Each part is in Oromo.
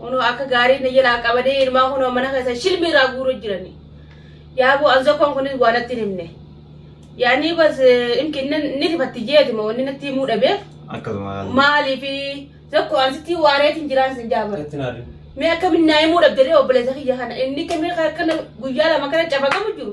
Kunoo akka gaarii na jalaa qabanii ilmaan kunoo mana keessa shilmii irraa guuruu jirani. Yaaboo an zokkoon kunis waa natti hin himne. Yaanii bas imki inni ni rifatti jeeti moo inni natti himuu dhabeef Akkasuma haala. maaliif zokkoo an sitti waareetiin jiraan sin jaabara. Itti naadin. Mee akkamiin naa himuu dhabdee obboleessa kiyya kana inni kamii kana guyyaa lama kana cafaqamu jiru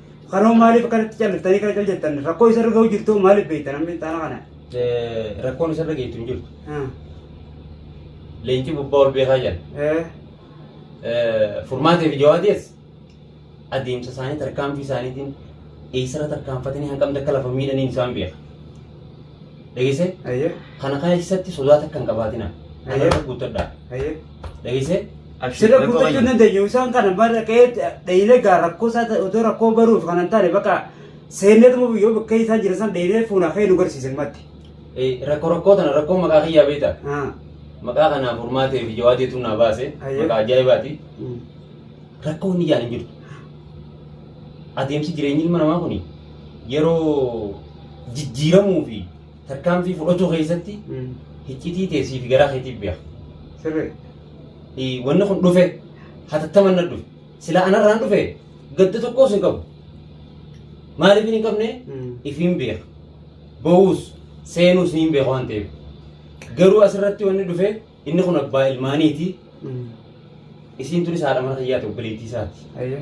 Kanoo maaliif akkanatti calliftanii kana cal jettan rakkoo isa irra ga'u jirtu maaliif beektan amma ixaana kana? Eh, Rakkoon isarra geettu hin jirtu. Ah, Leenci gubbaa ol beekaa jala. eh, Eh, Furmaatee fi jawaadees adeemsa isaanii tarkaanfii isaaniitiin eessarra tarkaanfatanii hanqamte akka lafa miidhaniin isaan beeka. Dhageessee? Ayyee, Kana kana keessatti sodaa takka hin qabaatina. Ayyee. Kanarra guuttadha. ayyee. Dhageessee? Abshir. Sirra rakkoo guuttachuu hin qabanya. dandeenyu isaan kana bara ka'ee dheeyinee gaa rakkoo isaa ta'e otoo rakkoo baruuf kan hin taane bakka seenneetuma biyyoo bakka isaan jiran san dheeyinee fuunaa ka'ee nu garsiisan matti. Eh, Rakkoo rakkoo tana rakkoo maqaa kiyyaa beekta. Ah. Maqaa kanaaf furmaatee fi jawaateetu naa baase. Ayyoo. Maqaa ajaa'ibaati. Mm. Rakkoo inni jaan hin jirtu. Adeemsi jireenyi ilma namaa kun yeroo jijjiiramuu fi Tarkaanfii fudhachuu keessatti hiccitii teessii fi garaa keetiif beeka. Sirrii. Eh, Wanni kun dhufe hatattaman na dhufe. Sila anarraan dhufe gadda tokkos hin qabu. Maaliif hin qabne ifiin beeka. Ba'uus seenuus ni beeka waan ta'eef. Garuu asirratti wanni dhufe Inni kun abbaa ilmaaniiti. Isiin tunis haadha mana kiyyaati obboleettii isaati. Ayyee.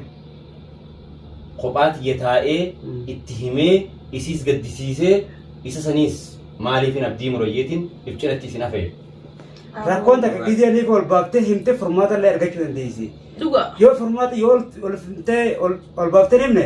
Kophaa tiyya taa'ee Mm. itti himee isiis gaddisiisee isa saniis maaliifin abdii murayyeetiin if cinatti isin hafee. Rakkoon takka gizee niif ol baaftee himtee furmaata illee argachuu dandeessi. Dhugaa. Yoo furmaata yoo ol- ol fimtee ol ol baaftee himne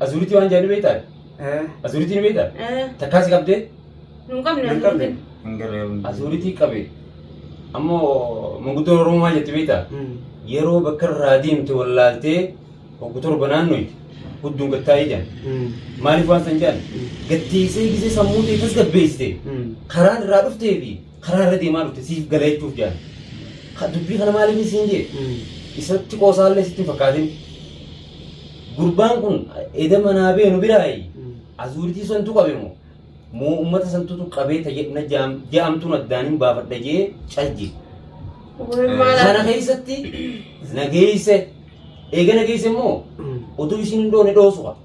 Azuuritii waan jedhan ni beektaa? Eh, Azuuritii ni beektaa? Eh, Takkaa si qabdee? nu hin qabne hin qabne. azuuritiin. hin garree hundi. Azuuritii qabe. Ammoo manguddoo Oromoo maal jetti beektaa? Mm. Yeroo bakka irraa deemte wallaaltee waggu torba naannoyti hudduun gattaa'ee jedhan. Mm. Maaliif waan san jedhan? Gatteessee gisee sammuu ta'e tasgabbeessite. Mm. Karaan irraa dhuftee fi Karaa irra deemaa dhufte siif gala jechuuf jedhan. Ka- Dubbii kana maaliif hin siin jee? Isatti qoosaallee sitti hin fakkaatin. Gurbaan kun eda manaa bee nu biraayi. Azuuritii santu qabe moo? Moo uummata santutu qabee tajaajila jaam- jaamtuun addaan hin baafadha jee calje. Sana keessatti nageesse. Eega nageesse immoo oduu isiin hin dhoone dhoosuqa.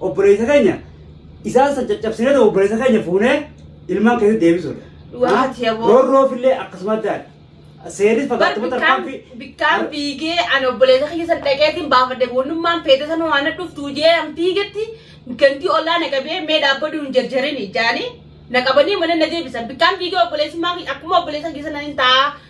Obboleessa keenya isaan san caccabsinee ta'u obboleessa keenya fuunee ilmaan keessa deebisuudha. Dhugaa miti aboo. Roorroof illee akkasuma adda adda. Seerris Bar fagaatuma bikkaan tarkaanfii. bikkaan fiigee ani obboleessa kiyya san dhaqeetiin baafadhe goonummaan feete san waan dhuftu jee an fiigetti gantii ollaa na qabee mee dhaabbaduu hin jarjarini jaanii na qabanii mana na deebisan bikkaan fiigee obboleessummaa kiyya akkuma obboleessa kiyya sana hin ta'a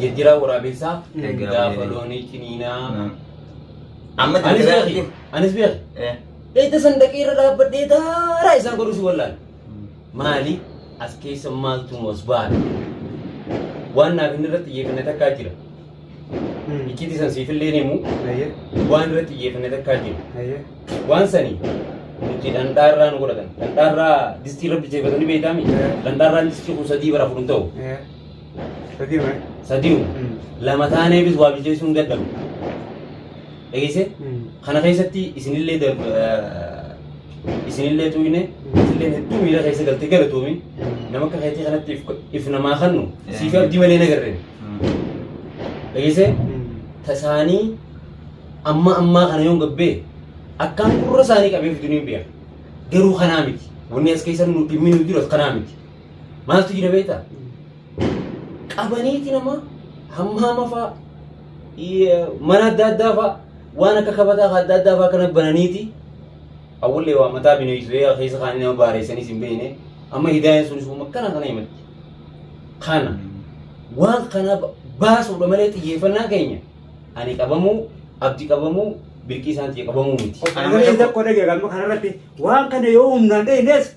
Jirjiraa waraabessaa gaafa loonii ciniinaa. Amma Anis jirjiraa beeki. Anis beeki. Eh. Eessa sandaqii irra dhaabbadhee daaraa isaan godhu si wallaan. Maali as keessa maaltu mos baala. Waan naaf inni irratti xiyyeeffanne takkaa jira. Iccitii san siifillee ni himu. Waan irratti xiyyeeffanne takkaa jira. Waan sani nuti dhandhaarraa nu godhatan. Dhandhaarraa distii irratti jeefatanii beektaami. Dhandhaarraa distii kun sadii bara fudhu hin ta'u. Sadii wayi. sadiyu Mm. lama taaneefis waa bilcheessuun dadhabu dhageesse Mm. kana keessatti isinillee darb- eh, isinillee tuuyne isinillee hedduu miira keessa galtee galatoomi nama akka keetii kanatti if- if namaa kannu siif abdii malee nagarre dhageesse Mm. tasaanii amma ammaa kana yoon gabbee akkaan gurra isaanii qabee fiduu ni beeka garuu kanaa miti wanni as keessa nu dhimmi nu jiru as kanaa miti Maaltu jira beektaa? Qabaniiti nama hammaama fa'a i- mana adda addaa fa'a waan akka kabataa kan adda addaa fa'a kana bananiiti. Awwallee waa mataa bineensee keessa kaanii nama baareessanis hin beekne amma hidaayaan sunis uuma kana kana himatti. Kana waan kana ba- baasuudha malee xiyyeeffannaa keenya ani qabamuu abdi qabamuu birqii isaan xiyya qabamuu miti. Kana malee tokko dhagee galma kanarratti waan kana yoo humnaan dheenyees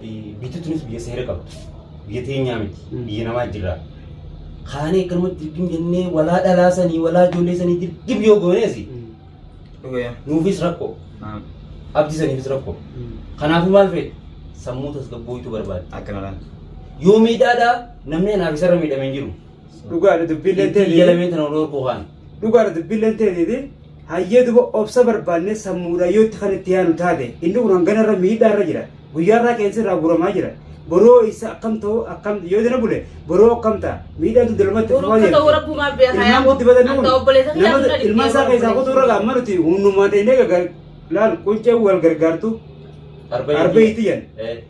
Biyyi tunis biyya seera qabdu. Biyya teenyaa miti. Biyya namaa jirra. Kaanee akkanumatti dirqim jennee walaa dhalaasanii walaa ijoollee sanii dirqim yoo gooneesi Dhugaa. nuufis rakkoo. Naam. Abdi saniifis rakkoo. Kanaafuu maal fedhe? Sammuu tasgabbooytu barbaada. Akkanadhaan. Yoo miidhaadhaa namni anaaf isarra miidhame hin jiru. Dhugaadha dubbiin Itti jalame tana ol orkuu kaana. Dhugaadha dubbiilleen teetiiti. Hayyee duba obsa barbaannee sammuudhaan yoo itti kan itti yaanu taate inni kun hangana irra miidhaa irra jira. Guyyaa irraa qeensi irraa guuramaa jira. Boroo isa akkam ta'u akkam yoo dina bule boroo akkam ta'a miidhaan tun dalmatti Boroo akka ta'u rabbumaa beeka, yaa Ilmaan boo. gutti badan Anta obboleessa kiyyaa nama nuna ilmaan isaa dhibbee keessaa obboleessa. kutuu irra amma nuti hundumaan dheenee gagal laal quncee wal gargaartu Arbee Arbee itti itti yan. Eh.